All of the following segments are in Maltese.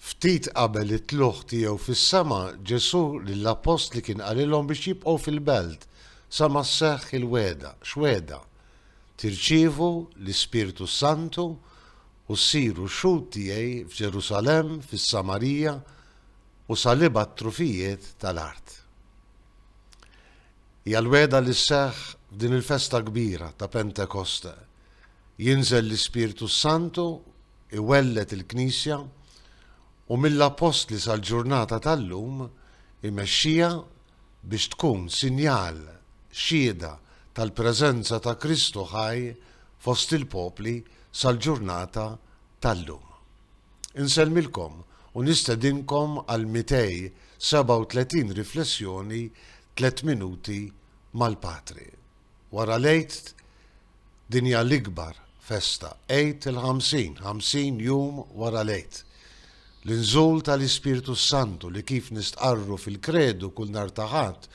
Ftit qabel it-tlugħ tiegħu fis-sema, Ġesù lill-appostli kien qalilhom biex jibqgħu fil-belt sa ma sseħħ il-wegħda, x'wegħda? Tirċievu l-Ispirtu s-Santu u ssiru xhud tiegħi f'Ġerusalemm, fis-Samarija u sal-ibgħat trufijiet tal-art. Hija l-wegħda li sseħħ f'din il-festa kbira ta' Pentekoste. Jinżel l-Ispirtu s-Santu, iwelled il-Knisja, u mill-Appostli sal-ġurnata tal-lum imexxiha biex tkun sinjal, xhieda, tal-preżenza ta' Kristu ħaj fost il-popli sal-ġurnata tal-lum. Insellmilkom u nistedinkom għal 237 riflessjoni Tliet Minuti mal-Patri. Wara l-Għid din hija l-ikbar festa, Għid il-Ħamsin, ħamsin jum wara l-Għid. L-inżul tal-Ispirtu s-Santu li kif nistqarru fil-Kredu kull nhar ta' Ħadd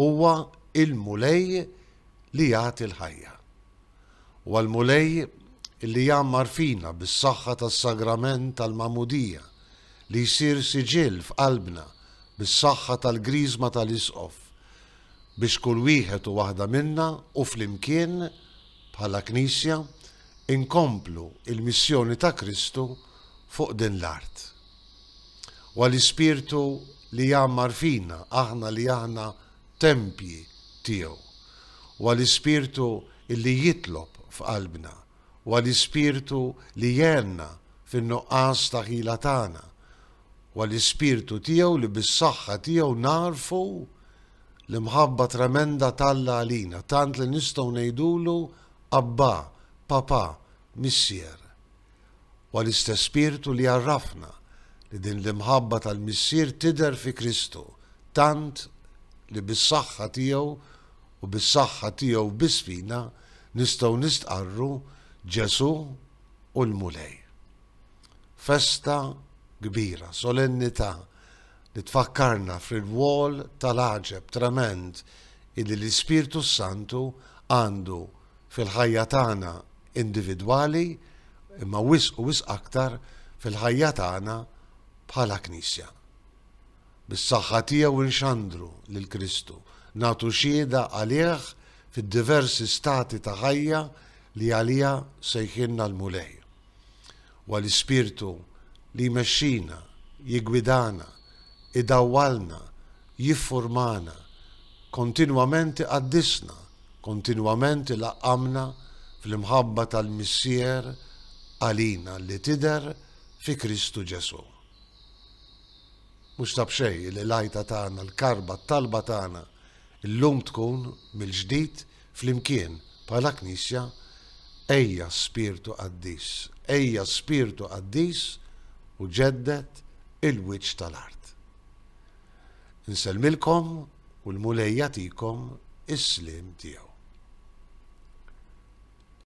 huwa il-Mulej li jagħti l-ħajja. u għall-Mulej li jgħammar fina bis-saħħa tas-Sagrament tal-Magħmudija li jsir siġill f'qalbna bis-saħħa tal-Griżma tal-Isqof biex kull wieħed u waħda minna u flimkien bħala Knisja inkomplu l-missjoni ta' Kristu fuq din l-art. U għall-Ispirtu li jgħammar fina aħna li aħna tempji tiegħu. Huwa l-Ispirtu li jitlob f'qalbna. Huwa l-Ispirtu li jgħenna fin-nuqqas ta' ħila tagħna. Huwa l-Ispirtu tiegħu li bis-saħħa tiegħu nagħrfu l-imħabba tremenda t'Alla għalina, tant li nistgħu ngħidulu Abbà, Papà, Missier. Huwa l-istess Spirtu li għarrafna li din l-imħabba tal-Missier tidher fi Kristu, tant li bis-saħħa tiegħu u bis-saħħa tiegħu biss fina nistgħu nistqarru Ġesù hu l-Mulej. Festa kbira, solennità, li tfakkarna fir-rwol tal-għaġeb tremend illi l-Ispirtu s-Santu għandu fil-ħajja tagħna individwali, imma wisq u wisq aktar fil-ħajja tagħna bħala Knisja. Bis-saħħa tiegħu inxandru lil Kristu, nagħtu xhieda għalih fid-diversi stati ta' ħajja li għaliha sejħilna l-Mulej. Huwa l-Ispirtu li jmexxina, jiggwidana, idawwalna, jiffurmana, kontinwament iqaddisna, kontinwament ilaqqamna fl-imħabba tal-Missier għalina li tidher fi Kristu Ġesù. Mhux ta' b'xejn li l-għajta tagħna, l-karba, t-talba tagħna llum tkun, mill-ġdid, Flimkien, bħala Knisja, ejja spirtu qaddis, ejja spirtu qaddis u ġedded il-wiċċ tal-art. Insellmilkom u l-Mulej jagħtikom is-sliem tiegħu.